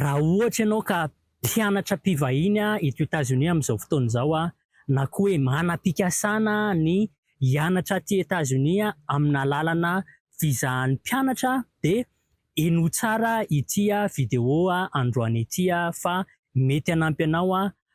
Raha ohatra ianao ka mpianatra mpivahiny eto Etazonia amin'izao fotoana izao, na koa hoe manam-pikasana ny hianatra aty Etazonia amin'ny alalana visa an'ny mpianatra dia henoy tsara ity video androany ity fa mety hanampy anao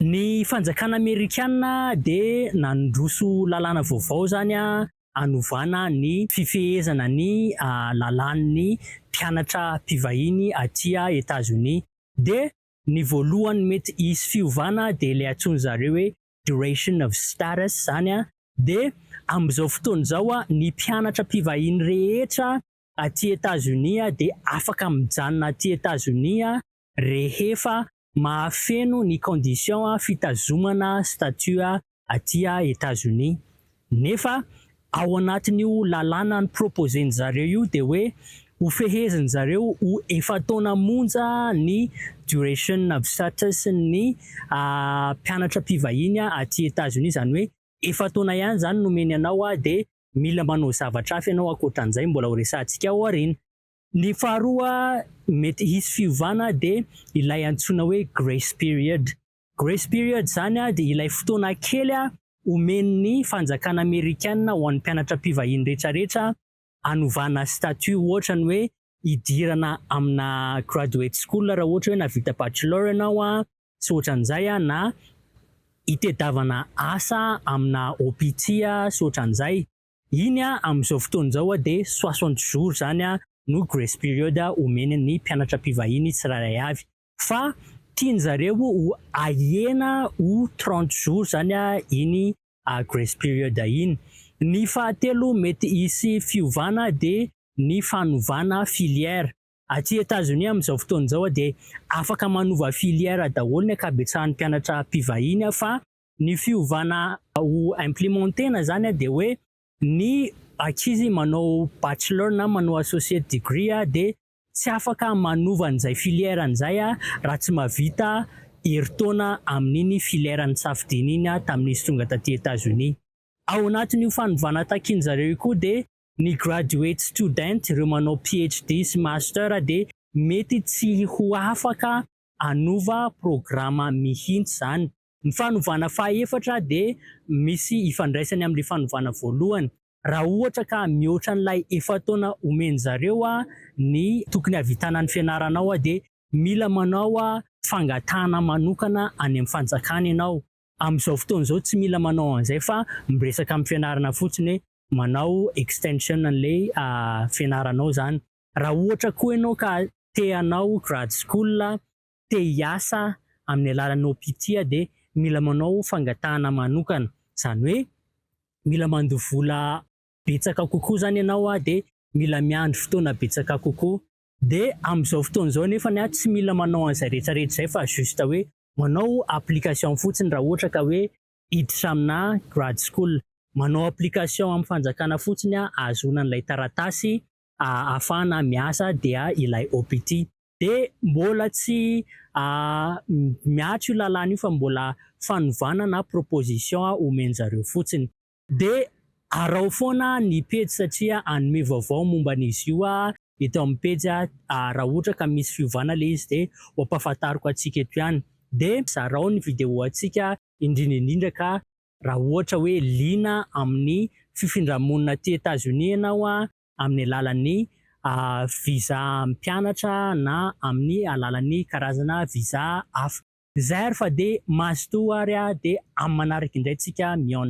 Ny fanjakana amerikana dia nandroso lalàna vaovao izany hanovana ny fifehezana ny lalàn'ny mpianatra mpivahiny aty Etazonia. Dia ny voalohany mety hisy fiovana dia ilay antsoin-dry zareo hoe duration of status izany dia amin'izao fotoana izao ny mpianatra mpivahiny rehetra aty Etazonia dia afaka mijanona aty Etazonia rehefa mahafeno ny condition fitazomana statut aty Etats-Unis. Nefa ao anatin'io lalàna ni-proposer-ndry zareo io dia hoe hofehezin-dry zareo ho efa-taona monja ny duration of status-n'ny mpianatra mpivahiny aty Etats-Unis. Izany hoe efa-taona ihany izany no omeny anao dia mila manao zavatra hafa ianao ankoatran'izay mbola horesahantsika ao aoriana. Ny faharoa mety hisy fiovana dia ilay antsoina hoe grace period. Grace period izany dia ilay fotoana kely omen'ny fanjakana amerikana ho an'ny mpianatra mpivahiny rehetrarehetra hanovana statut ohatra ny hoe hidirana amina graduate school raha ohatra hoe navita bachelor ianao sy ohatran'izay na hitedavana asa amina OPT sy ohatran'izay. Iny amin'izao fotoana izao dia soixante jours izany no grace period omeny ny mpianatra mpivahiny tsirairay avy fa tiany zareo ho ahena ho trente jours izany iny grace period iny. Ny fahatelo mety hisy fiovana dia ny fanovana filière. Aty Etazonia amin'izao fotoana izao dia afaka manova filière daholo ny ankabetsahan'ny mpianatra mpivahiny fa Ny fiovana ho implimenter-na izany dia hoe ny ankizy manao bachelor na manao associate degree dia tsy afaka manova an'izay filière-ny izay raha tsy mahavita herintaona amin'iny filière nisafidiany iny tamin'izy tonga taty Etazonia. Ao anatin'io fanovana takin'ny zareo io koa dia ny graduate student, ireo manao PhD sy master dia mety tsy ho afaka hanova programa mihitsy izany. Ny fanovana fahaefatra dia misy ifandraisany amin'ilay fanovana voalohany. Raha ohatra ka mihoatra an'ilay efa-taona omen'ny zareo ny tokony hahavitana ny fianaranao dia mila manao fangatahana manokana any amin'ny fanjakana ianao. Amin'izao fotoana izao tsy mila manao an'izay fa miresaka amin'ny fianarana fotsiny hoe manao extension an'ilay fianaranao izany. Raha ohatra koa ianao ka te hanao grad school te hiasa amin'ny alalan'ny OPITIA dia mila manao fangatahana manokana, izany hoe mila mandoa vola betsaka kokoa izany ianao dia mila miandry fotoana betsaka kokoa, dia amin'izao fotoana izao anefa tsy mila manao an'izay rehetra rehetra izay fa juste hoe manao application fotsiny raha ohatra ka hoe hiditra amina grad school, manao application amin'ny fanjakana fotsiny ahazoana an'ilay taratasy ahafahana miasa dia ilay OPT. Dia mbola tsy miato io lalàna io fa mbola fanovana na proposition omen-jareo fotsiny. Dia araho foana ny pejy satria hanome vaovao momba an'izy io aho eto amin'ny pejy raha ohatra ka misy fiovana ilay izy dia ho ampahafantariko antsika eto ihany. Dia zarao ny video antsika indrindra indrindra ka. raha ohatra hoe liana amin'ny fifindra-monina aty Etazonia ianao amin'ny alalan'ny visa mpianatra na amin'ny alalan'ny karazana visa hafa. Zay ary fa dia mazotoa ary dia amin'ny manaraka indray tsika mihaona.